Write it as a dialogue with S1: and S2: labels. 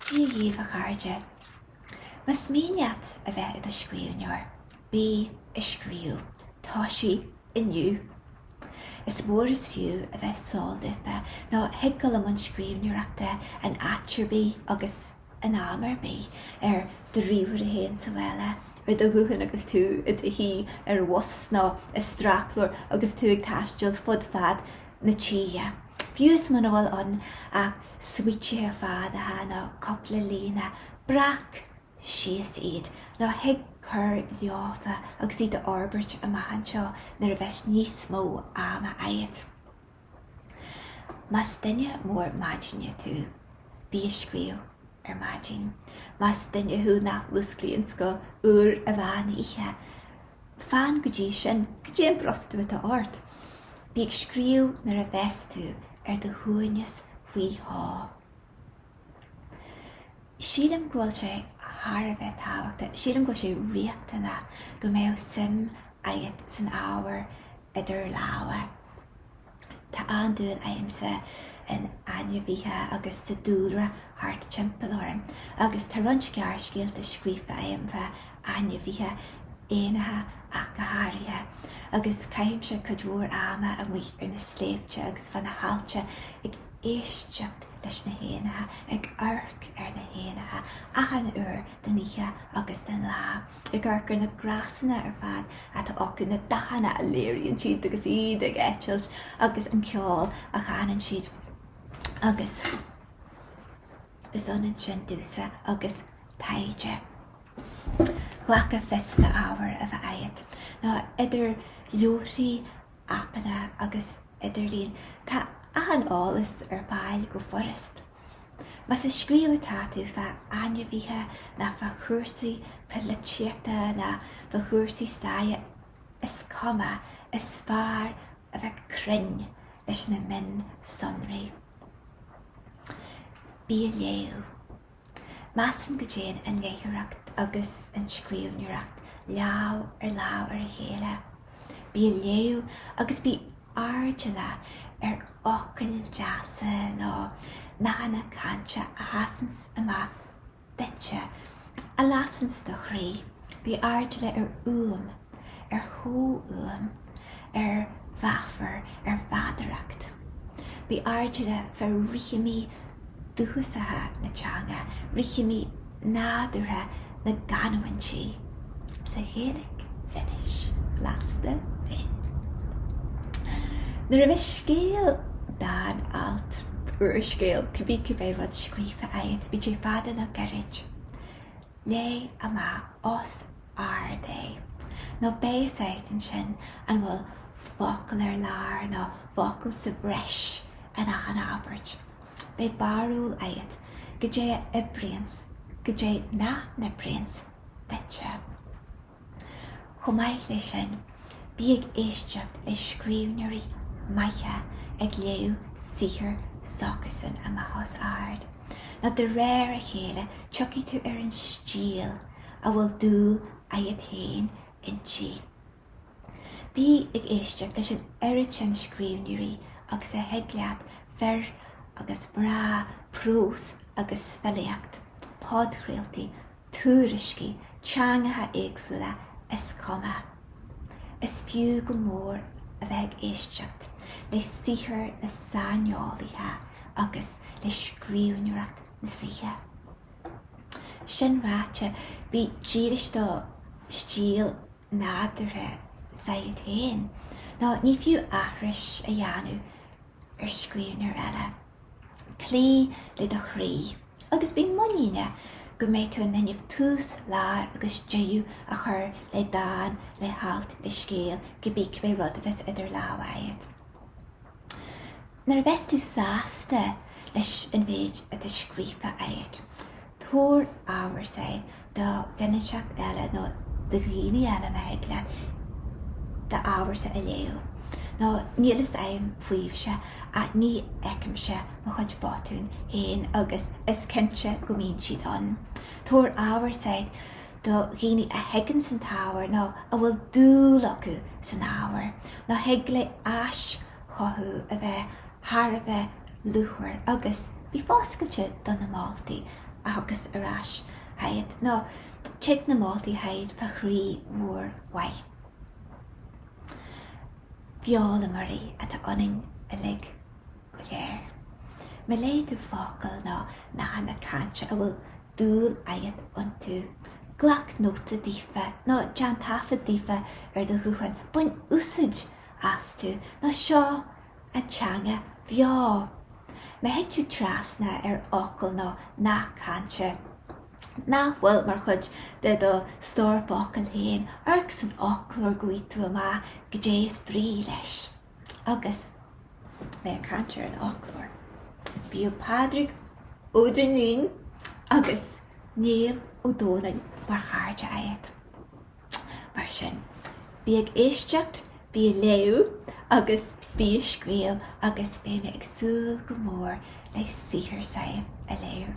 S1: Dia dhaoibh, a chairde. Más mian leat a bheith i do scríbhneoir, bí ag scríobh. Toisigh inniu. Is mór is fiú a bheith solúbtha, nó thig a ghabháil i mbun scríbhneoireachta in áit ar bith agus. in am ar bith, ar do ríomhaire féin sa bhaile, ar do ghuthán agus tú i do shuí ar bhus nó i sracleabhar agus tú ag taisteal fud fad na tíre, fiú is muna bhfuil ann ach smaoitithe fánacha nó cúpla líne, breac síos iad nó thig cur leofa agus iad a fhorbairt amach anseo nuair a bheas níos mó ama agat. Más duine mór maidine tú, bí ag scríobh ar maidin. Más duine thú nach músclaíonn go huair an mheán oíche, fan go dtí sin, cad é an brostú atá ort? Bí ag scríobh nuair a bheas tú ar do shuaimhneas faoi shó. Sílim go bhfuil sé thar a bheith tábhachtach, sílim go bhfuil sé riachtanach go mbeadh suim agat san ábhar idir lámha. Tá an-dúil agamsa in ainmhithe agus sa dúlra thart timpeall orm agus tá roinnt gearrscéalta scríofa agam fá ainmhithe, éanacha ach go háirithe, agus caithimse cuid mhór ama amuigh ar na sléibhte agus fá na haillte ag. éisteacht leis na héanacha ag amharc ar na héanacha achan uair den oíche agus den lá, ag amharc ar na gnásanna ar fad atá acu, na dathanna a léiríonn siad agus iad ag eitilt agus an ceol a chanann siad. Agus is ionann sin domhsa agus taighde. Ghlacfá fios d'ábhar a bheith agat, nó idir leabharthaí, aipeanna agus idirlíon, tá achan eolas ar fáil go furast. Más ag scríobh atá tú fá ainmhithe nó fá chúrsaí poilitíochta nó fá chúrsaí staire, is cuma, is fearr a bheith cruinn leis na mionsonraí. Bí ag léamh. Measaim go dtéann an léitheoireacht agus an scríbhneoireacht lámh ar lámh ar a chéile. Bí ag léamh agus bí airdeallach ar fhocail deasa nó nathanna cainte a sheasanns amach duitse, a lasanns do chroí. Bí airdeallach ar uaim, ar chomhfhuaim. ar mheafar, ar mheadaracht. Bí airdeallach ar rithimí dúchasacha na teanga, rithimí nádúrtha na gcanúintí sa Ghaeilge mhilis bhlasta bhinn. Nuair a bheas scéal, dán, alt, úrscéal, cibé cibé rud scríofa agat, bíodh sé fada nó gairid, léigh amach os ard é. Nó beidh a fhios agat ansin an bhfuil focal ar lár nó focal sa bhreis in achan abairt. Beidh barúil agat goidé a oibríonns, goidé nach n-oibríonns duitse. Chomh maith leis sin, bí ag éisteacht le scríbhneoirí maithe ag léamh saothar s'acusan amach os ard, nó de réir a chéile tiocfaidh tú ar an stíl, a bhfuil dúil agat féin inti. Bí ag éisteacht leis an oiread sin scríbhneoirí agus a thig leat, fir agus mná, prós agus filíocht, podchraoltaí, tuairiscí, teangacha éagsúla, is cuma. Is fiú go mór a bheith ag éisteacht le saothar na saineolaithe agus le scríbhneoireacht na saoithe. Sin ráite, bí dílis do stíl nádúrtha s'agat féin, nó ní fiú aithris a dhéanamh ar scríbhneoir eile. Cloígh le do chroí, agus bí muiníneach go mbeidh tú in innimh tús, lár agus deireadh a chur le dán, le halt, le scéal, cibé cibé rud a bheas idir lámha agat. Nuair a bheas tú sásta leis an mhéid atá scríofa agat, tabhair ábhar s'agat do dhuine inteacht eile nó do dhaoine eile má thig leat d'ábharsa a léamh, nó níl fhios a'm faoibhse ach ní fheicimse mo chuid botún féin agus is cinnte go mbíonn siad ann. Tabhair ábhar s'agat do dhaoine a thuigeanns an t-ábhar nó a bhfuil dúil acu san ábhar, nó thig le hais chothú a bheith thar a bheith luachmhar agus bí foscailte do na moltaí a thiocfas ar ais chugat, nó tig na moltaí chugat fá chroí mhór mhaith. Foghlaimeoirí atá ionainn uilig go léir. Má léann tú focail nó nathanna cainte a bhfuil dúil agat iontu. Glac nóta daofa, nó déan taifead daofa ar do ghuthán. Bain úsaid astu ná seo, an teanga bheo. Má thig tú trasna ar fhocal nó nath cainte nach bhfuil mar chuid de do stór focal féin, amharc san fhoclóir go bhfaighidh tú amach goidé is brí leis. Agus mé ag caint ar an fhoclóir, bíodh Pádraig Ó Duinnín agus Niall Ó Dónaill mar chairde agat. Mar sin, bí ag éisteacht, bí ag léamh agus bí ag scríobh agus beidh mé ag súil go mór le saothar Sadhbh a léamh.